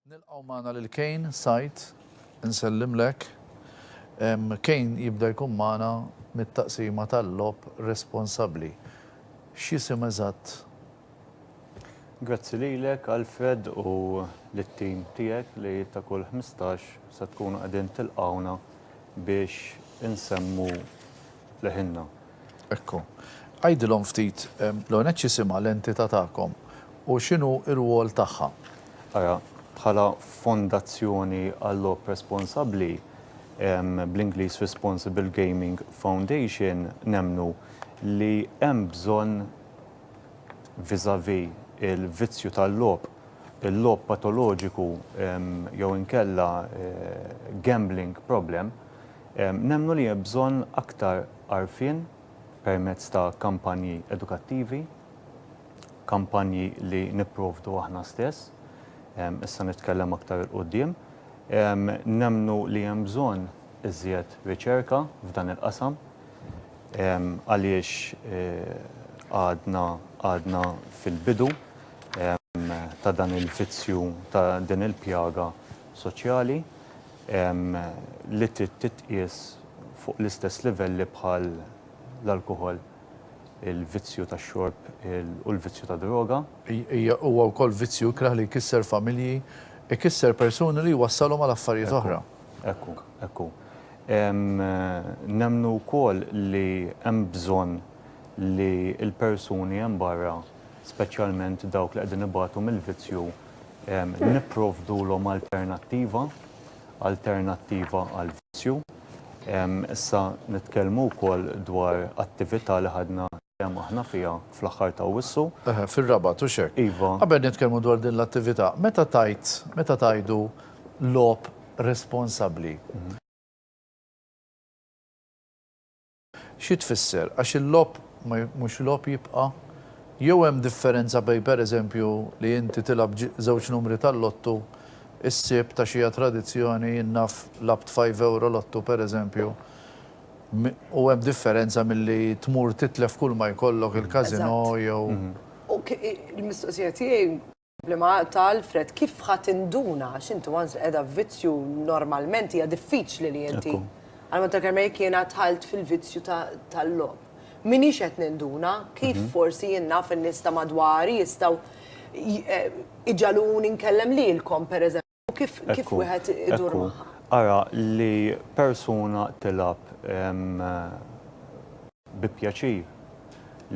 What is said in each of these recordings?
Nilqgħu magħna lil Kane Said, insellimlek. Kane jibda jkun magħna mit-taqsima tal-logħob responsabbli. X'jisim eżatt Grazzi lilek Alfred u lit-tim tiegħek li ta' kull ħmistax se tkunu qegħdin tilqgħuna biex insemmu leħinna. Ekku. Għidilhom ftit, l-ewwel nett x'jisimha l-entità tagħkom u x'inhu r-rwol tagħha? Ara, bħala Fondazzjoni għal-Logħob Responsabbli, bl-Ingliż Responsible Gaming Foundation, nemmnu li hemm bżonn, vis-à-vis il-vizzju tal-logħob, il-logħob patoloġiku jew inkella gambling problem, nemmnu li hemm bżonn aktar għarfien permezz ta' kampanji edukattivi, kampanji li nipprovdu aħna stess, issa nitkellem aktar 'il quddiem. Nemmnu li hemm bżonn iżjed riċerka f'dan il-qasam. Għaliex għadna għadna fil-bidu ta' dan il-vizzju ta' din il-pjaga soċjali li trid titqies fuq l-istess livelli bħal l-alkoħol, il-vizzju tax-xorb u l-vizzju tad-droga. Hija huwa wkoll vizzju ikrah li jkisser familji, ikisser persuni li jwassalhom għal affarijiet oħra. Hekk hu, hekk hu. Nemmnu wkoll li hemm bżonn li l-persuni hemm barra, speċjalment dawk li qegħdin ibatu mill-vizzju, nipprovdulhom alternattiva, alternattiva għall-vizzju. Issa nitkellmu wkoll dwar attività li ħadna Kemm aħna fiha fl-aħħar ta' Awwissu. Eħe, fir-Rabat, hux hekk? Iva. Qabel nitkellmu dwar din l-attività, meta tgħid, meta tgħidu logħob responsabbli, xi tfisser? Għax il-logħob ma mhux logħob jibqa'? Jew hemm differenza bejn pereżempju li inti tilgħab żewġ numri tal-lottu s-Sibt għax hija tradizzjoni, jien naf lgħabt five euro lottu pereżempju, U hemm differenza milli tmur titlef kull ma jkollok il-casino jew. U l-mistoqsija tiegħi li ma ta' Alfred kif ħa tinduna għax inti once li qiegħda f'vizzju normalment hija diffiċli li inti. Għal mod tal-kelma jekk jiena dħalt fil-vizzju tal-logħob. M'iniex qed ninduna kif forsi jien naf in-nies ta' madwari jistgħu iġagħluni nkellem lilkom pereżempju. U kif kif wieħed idur magħha? Ara li persuna tilgħab bi pjaċir,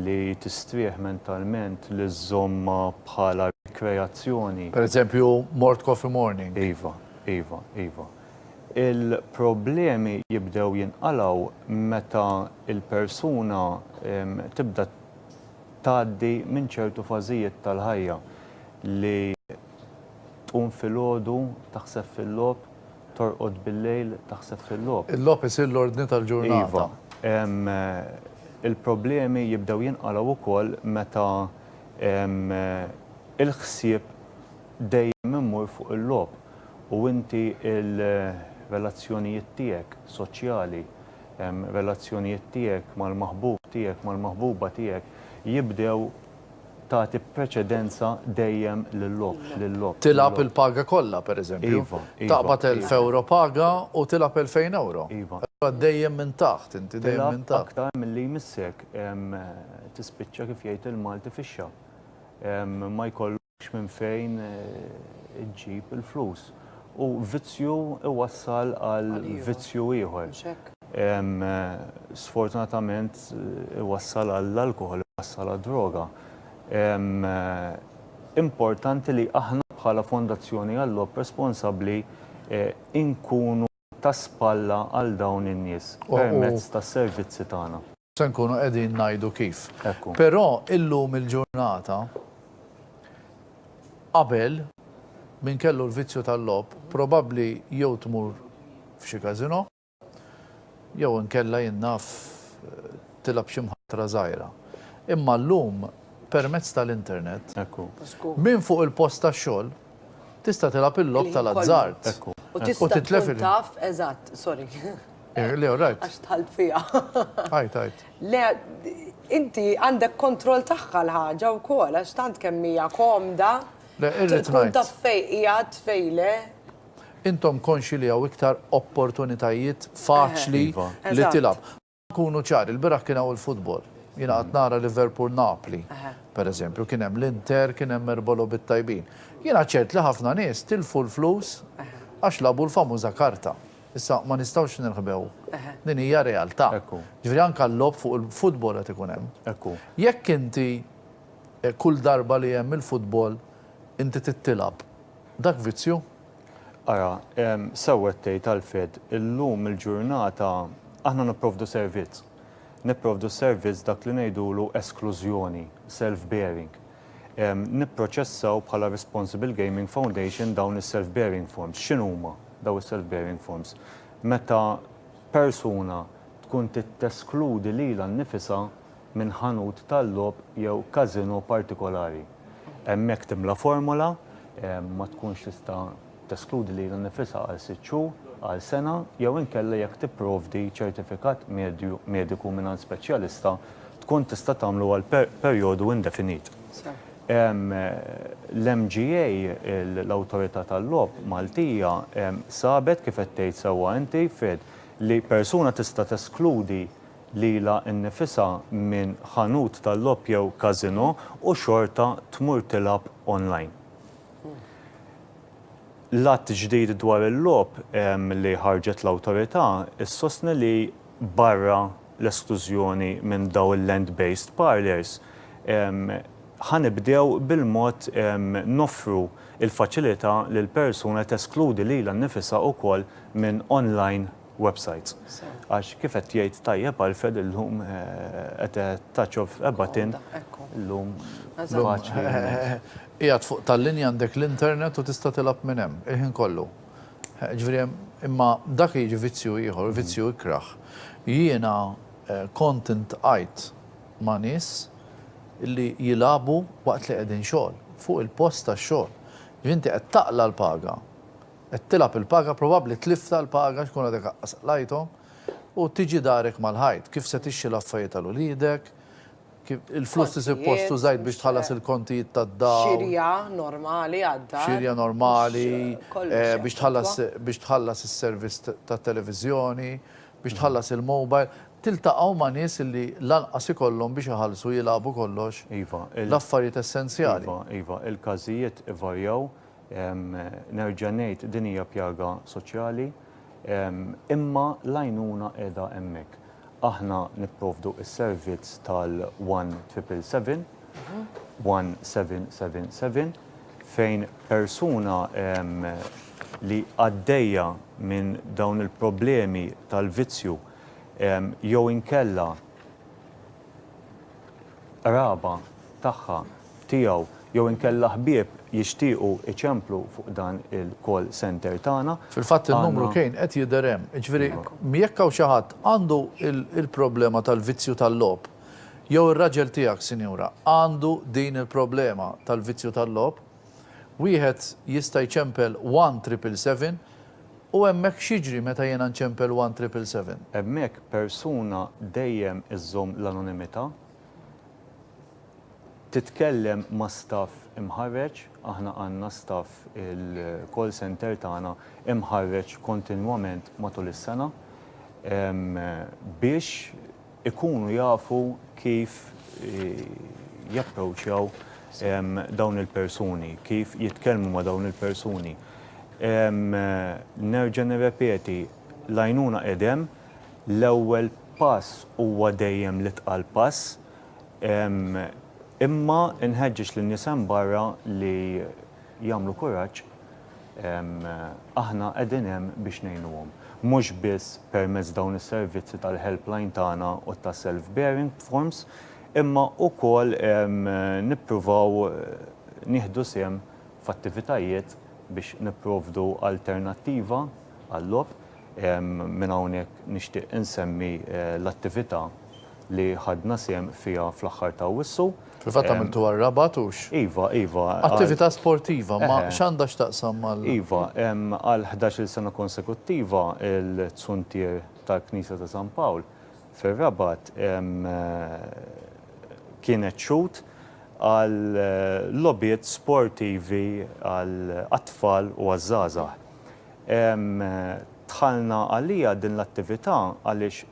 li tistrieħ mentalment, li żżommha bħala rikreazzjoni. Per eżempju, mort coffee morning. Iva, iva, iva. Il-problemi jibdew jinqalgħu meta l-persuna tibda tgħaddi minn ċertu fażijiet tal-ħajja li Tqum filgħodu, taħseb fil-logħob, torqod billejl, taħseb fil-logħob. Il-logħob isir l-ordni tal-ġurnata. Iva. Il-problemi jibdew jinqalgħu wkoll meta l-ħsieb dejjem imur fuq il-logħob u inti l-relazzjonijiet tiegħek soċjali, relazzjonijiet tiegħek mal-maħbub tiegħek, mal-maħbuba tiegħek jibdew, tagħti preċedenza dejjem lil-logħob. Tilgħab il-paga kollha, pereżempju. Taqbad elf ewro paga u tilgħab elfejn ewro. Allura dejjem minn taħt, inti dejjem minn taħt. Tilgħab aktar milli jmissek. Tispiċċa kif jgħid il-Malti fixxa. Ma jkollok. x'minn fejn iġġib il-flus. U vizzju iwassal għal vizzju ieħor. Sfortunatament iwassal għall-alkoħol, iwassal għad-droga. Importanti li aħna bħala Fondazzjoni Għal-Logħob Responsabbli inkunu ta' spalla għal dawn in-nies permezz tas-servizzi tagħna. Se nkunu qegħdin ngħidu kif. Però illum il-ġurnata qabel min kellu l-vizzju tal-logħob probabbli jew tmur f'xi casino jew inkella jien naf tilgħab xi mħatra żgħira. Imma llum permezz tal-internet minn fuq il-post tax-xogħol tista' tilgħab il-logħob tal-azzard u titlef il-. Eh, le, rajt. Għax tħalt fija. Għajt, għajt. Le, inti għandek kontroll tagħha l-ħaġa wkoll għax tant kemm hija komda. Le, irrid ngħid. Taf fej qiegħed fejle. Intom konxi li hawn iktar opportunitajiet faċli iva. li tilab. Kunu ċar, il-biraħ kien hawn il-futbol. Jina għat nara Liverpool Napli, per eżempju, kien hemm l-Inter, kien hemm erbolo bit-tajbin. Jina ċert li ħafna nies tilfu l-flus għax labu l-famuża karta. Issa, ma nistgħux nirħbew. Din hija realtà. Jiġifieri anke l-logħob fuq il-futbol qed ikun hemm. Jekk inti kull darba li hemm il-futbol inti tittilgħab, dak vizzju? Ara, sewwa qed tgħid Alfred, illum il-ġurnata aħna nipprovdu servizz. Nipprovdu s-servizz dak li ngħidulu esklużjoni, self-bearing. nipproċessaw bħala Responsible Gaming Foundation dawn is-self-bearing forms. X'inhuma dawn is-self-bearing forms? Meta persuna tkun titteskludi lilha nnifisha minn ħanut tal-logħob jew każinò partikolari. Hemmhekk timla formola, ma tkunx tista' teskludi lilha nnifisha għal sitt xhur, għal sena jew inkella jekk tipprovdi ċertifikat mediku mingħand speċjalista tkun tista' tagħmlu għal perjodu indefinit. L-MGA, l-Awtorità tal-Logħob Maltija, sabet, kif qed tgħid sewwa inti, Fed, li persuna tista' teskludi lilha nnifisha minn ħanut tal-logħob jew casino u xorta tmur tilgħab online. L-Att ġdid dwar il-Logħob li ħarġet l-Awtorità ssostni li barra l-esklużjoni minn dawn il-land-based parlours, ħa nibdew bil-mod noffru l-faċilità lil persuna teskludi lilha nnifisha wkoll minn online websajts. Għax kif qed jgħid tajjeb Alfred illum at a touch of a button illum faċli immens. Qiegħed fuq tal-linja għandek l-internet u tista' tilgħab minn hemm il-ħin kollu. Jiġifieri hemm imma dak jiġi vizzju ieħor, vizzju ikrah. Jiena kont intqajt ma' nies li jilagħbu waqt li qegħdin xogħol, fuq il-post tax-xogħol. Inti qed taqla' l-paga. Qed tilgħab il-paga, probabbli tlifta l-paga x'kun għadek aqqas qlajthom, u tiġi darek mal-ħajt. Kif se tixxi l-affarijiet għal uliedek, kif, il-flus li suppost użajt biex tħallas il-kontijiet tad-dawl. Xirja normali għad-dar. Xirja normali, biex tħallas, biex tħallas is-servizz tat-televiżjoni, biex tħallas il-mobile. Tiltaqgħu ma' nies li lanqas ikollhom biex iħallsu jilagħbu kollox l-affarijiet essenzjali. Iva, iva, iva, il-każijiet ivarjaw. Nerġa' ngħid din hija pjaga soċjali, imma l-għajnuna qiegħda hemmhekk. Aħna nipprovdu s-servizz tal-one triple seven, one seven seven seven, fejn persuna li għaddejja minn dawn il-problemi tal-vizzju jew inkella qraba tagħha, tiegħu jew inkella ħbieb jixtiequ jċemplu fuq dan il-call centre tagħna. Fil-fatt in-numru kien qed jidher hemm. Jiġifieri jekk hawn xi ħadd għandu l-problema tal-vizzju tal-logħob, jew ir-raġel tiegħek sinjura għandu din il-problema tal-vizzju tal-logħob, Wieħed jista' jċempel one triple seven u hemmhekk x'jiġri meta jiena nċempel one triple seven? Hemmhekk persuna dejjem iżżomm l-anonimità, titkellem ma' staff imħarreġ, aħna għandna staff il-call centre tagħna imħarreġ kontinwament matul is-sena biex ikunu jafu kif japproċċjaw dawn il-persuni, kif jitkellmu ma' dawn il-persuni. Nerġa' nirrepeti, l-għajnuna qed hemm, l-ewwel pass huwa dejjem l-itqal pass, imma nħeġġeġ lin-nies hemm barra li jagħmlu kuraġġ, aħna qegħdin hemm biex ngħinuhom. Mhux biss permezz dawn is-servizzi tal-helpline tagħna u ta' self bearing forms, imma wkoll nippruvaw nieħdu sehem f'attivitajiet biex nipprovdu alternattiva għal-logħob. Minn hawnhekk nixtieq insemmi l-attività li ħadna sehem fiha fl-aħħar ta' Awwissu. Fil-fatt għamiltuha r-Rabat hux? Iva, iva. Attività sportiva, ma x'għandha x'taqsam mal-? Iva, għal ħdax-il sena konsekuttiva l-zuntier tal-Knisja ta' San Pawl fir-Rabat kienet xhud għal logħbiet sportivi għat-tfal u għaż-żgħażagħ. Dħalna għaliha din l-attività għaliex.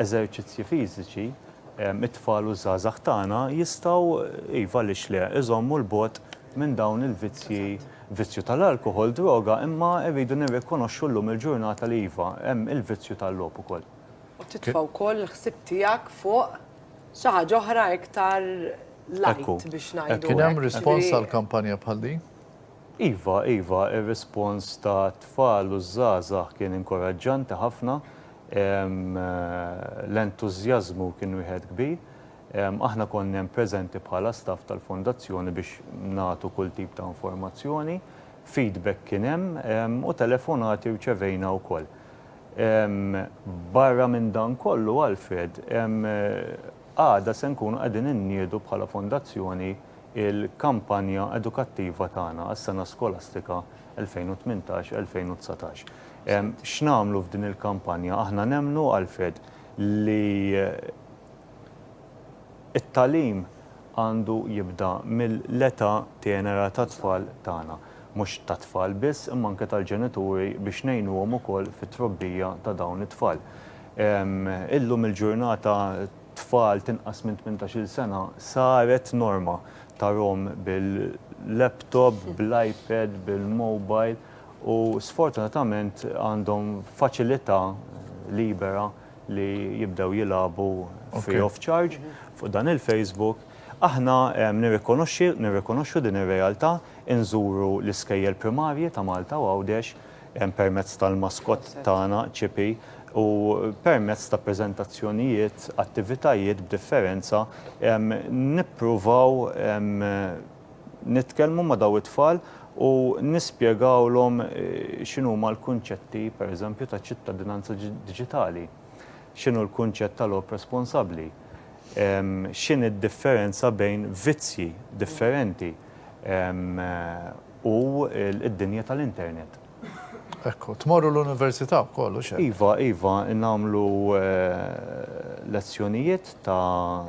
eżerċizzji fiżiċi, it-tfal u ż-żgħażagħ tagħna jistgħu, iva għaliex le, iżommu 'l bogħod minn dawn il-vizzji, vizzju tal-alkoħol, droga, imma rridu nirrikonoxxu llum il-ġurnata li iva, hemm il-vizzju tal-logħob ukoll. U titfa' wkoll il-ħsieb tiegħek fuq xi ħaġa oħra iktar light biex ngħidu hekk. Kien hemm rispons għal kampanja bħal din? Iva, iva, ir-rispons tat-tfal u ż-żgħażagħ kien inkoraġġanti ħafna. L-entużjażmu kien wieħed kbir. Aħna konna hemm preżenti bħala staff tal-Fondazzjoni biex nagħtu kull tip ta' informazzjoni. Feedback kien hemm u telefonati rċevejna wkoll. Barra minn dan kollu, Alfred, Għada se nkunu qegħdin inniedu bħala Fondazzjoni l-kampanja edukattiva tagħna għas-sena skolastika 2018-2019. X'nagħmlu f'din il-kampanja? Aħna nemmnu, Alfred, li t-tagħlim għandu jibda mill-età tenera tat-tfal tagħna. mhux tat-tfal biss imma anke tal-ġenituri biex ngħinuhom ukoll fit-trobbija ta' dawn it-tfal. Illum il-ġurnata tfal t'inqas minn tmintax-il sena saret norma tarhom bil-laptop, bl-iPad, bil-mobile u sfortunatament għandhom faċilità libera li jibdew jilagħbu free of charge fuq dan il-Facebook. Aħna nirrikonoxxi, nirrikonoxxu din ir-realtà, inżuru l-iskejjel primarji ta' Malta u Għawdex permezz tal-maskott tagħna, Ċipi, u permezz ta' preżentazzjonijiet, attivitajiet b'differenza nippruvaw nitkellmu ma' dawn it-tfal u nispjegawlhom x'inhuma l-kunċetti, pereżempju, ta' ċittadinanza diġitali. X'inhu l-kunċett ta' logħob responsabbli? X'inhi d-differenza bejn vizzji differenti u d-dinja tal-internet? Ekku, tmorru l-università wkoll, hux hekk? Iva, iva, nagħmlu lezzjonijiet ta'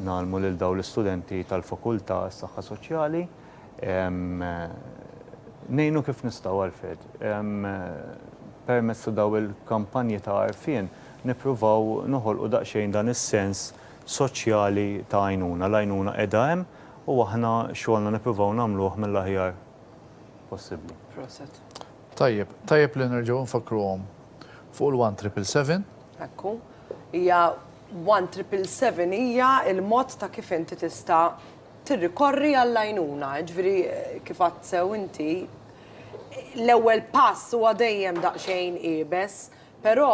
ngħallmu lil dawn l-istudenti tal-Fakultà għas-Saħħa Soċjali. Ngħinu kif nistgħu Alfred. Permezz ta' dawn il-kampanji ta' għarfien nippruvaw noħolqu daqsxejn dan is-sens soċjali ta' għajnuna. L-għajnuna qiegħda hemm u aħna xogħolna nippruvaw nagħmluh mill-aħjar possibbli. Proset. Tajjeb, tajjeb li nerġgħu nfakkruhom fuq il-one triple seven. Ekku. Hija one triple seven hija l-mod ta' kif inti tista' tirrikorri għall-għajnuna, jiġifieri kif għedt sew inti, l-ewwel pass huwa dejjem daqsxejn iebes, però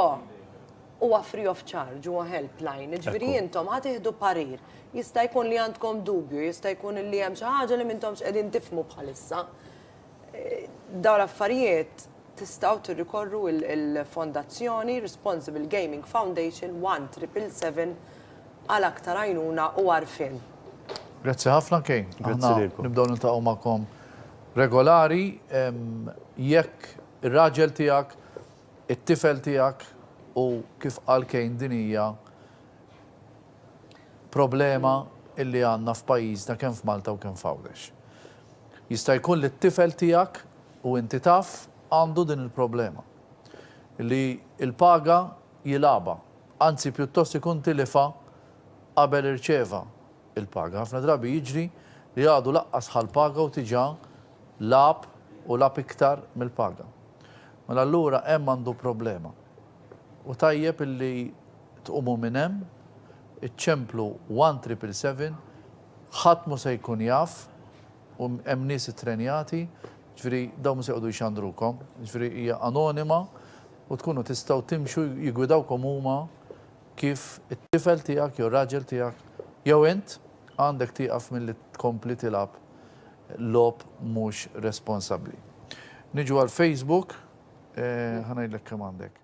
huwa free of charge, huwa helpline, jiġifieri intom ħa tieħdu parir, jista' jkun li għandkom dubju, jista' jkun li hemm xi ħaġa li m'intomx qegħdin tifhmu bħalissa. Dawn l-affarijiet tistgħu tirrikorru il-Fondazzjoni Responsible Gaming Foundation 1777 għal aktar għajnuna u għarfien. Grazzi ħafna Kane. Grazzi lilkom. Nibdew niltaqgħu magħkom regolari jekk ir-raġel tiegħek, it-tifel tiegħek u kif qal Kane din hija Problema illi għandna f'pajjiżna kemm f'Malta u kemm f'Għawdex. Jista' jkun li t-tifel tiegħek, u inti taf, għandu din il-problema. Li l-paga jilgħabha, anzi pjuttost ikun tilifha qabel irċieva l-paga. Ħafna drabi jiġri li għadu laqqas ħa l-paga u diġà lagħab u lagħab iktar mill-paga. Mela allura hemm għandu problema. U tajjeb illi tqumu minn hemm, iċċemplu one triple seven, ħadd mhu se jkun jaf, u hemm nies ittrenjati, ġifieri dawn mhu se jqogħdu jxandrukom, ġifieri hija anonima u tkunu tistgħu timxu jiggwidawkom huma kif it-tifel tiegħek jew ir-raġel tiegħek jew int għandek tieqaf milli tkompli tilgħab logħob mhux responsabbli. Niġu għall-Facebook, ħa ngħidlek kemm għandek.